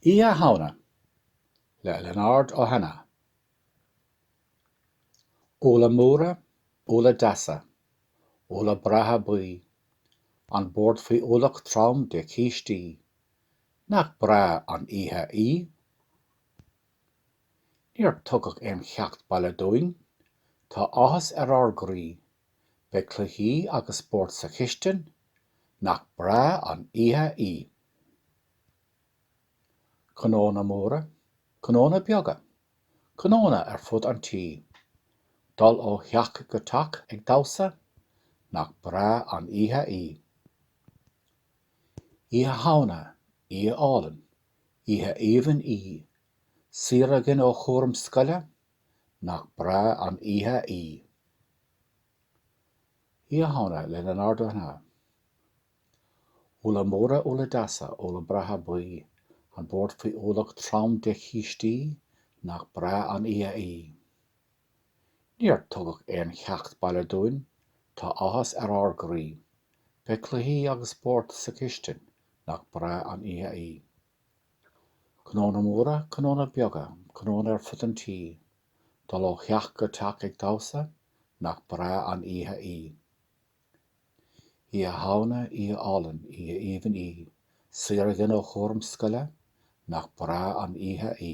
Oíche Shamhna le Lionard Ó hAnnaidh. Úlla móra, úlla deasa, úlla breátha buí, an bord faoi ualach trom de chístí, nach breá an oíche í? Níor tugadh aon cheacht baile dúinn, tá áthas ar ár gcroí Beidh cluichí agus spórt sa chistin, nach breá an oíche í! Cnónna móra, cnónna beaga, cnónna ar fud an tí. Dul ó theach go teach ag damhsa, nach breá an oíche í! Oíche Shamhna, oíche álainn, oíche aoibhinn í. Saor againn ó chúram scoile, Nach breá an oíche í. Oíche Shamhna le Lionard Ó hAnnaidh. Úlla móra, úlla deasa, úlla breátha buí, an bord faoi ualach trom de chístí, nach breá an oíche í. Níor tugadh aon cheacht baile dúinn, tá áthas ar ár gcroí. Beidh cluichí agus spórt sa chistin, nach breá an oíche í. Cnónna móra, cnónna beaga, cnónna ar fud an tí, dul ó theach go teach ag damhsa, nach breá an oíche í! Oíche Shamhna, oíche álainn, oíche aoibhinn í, saor againn ó chúram scoile, nach breá an oíche í!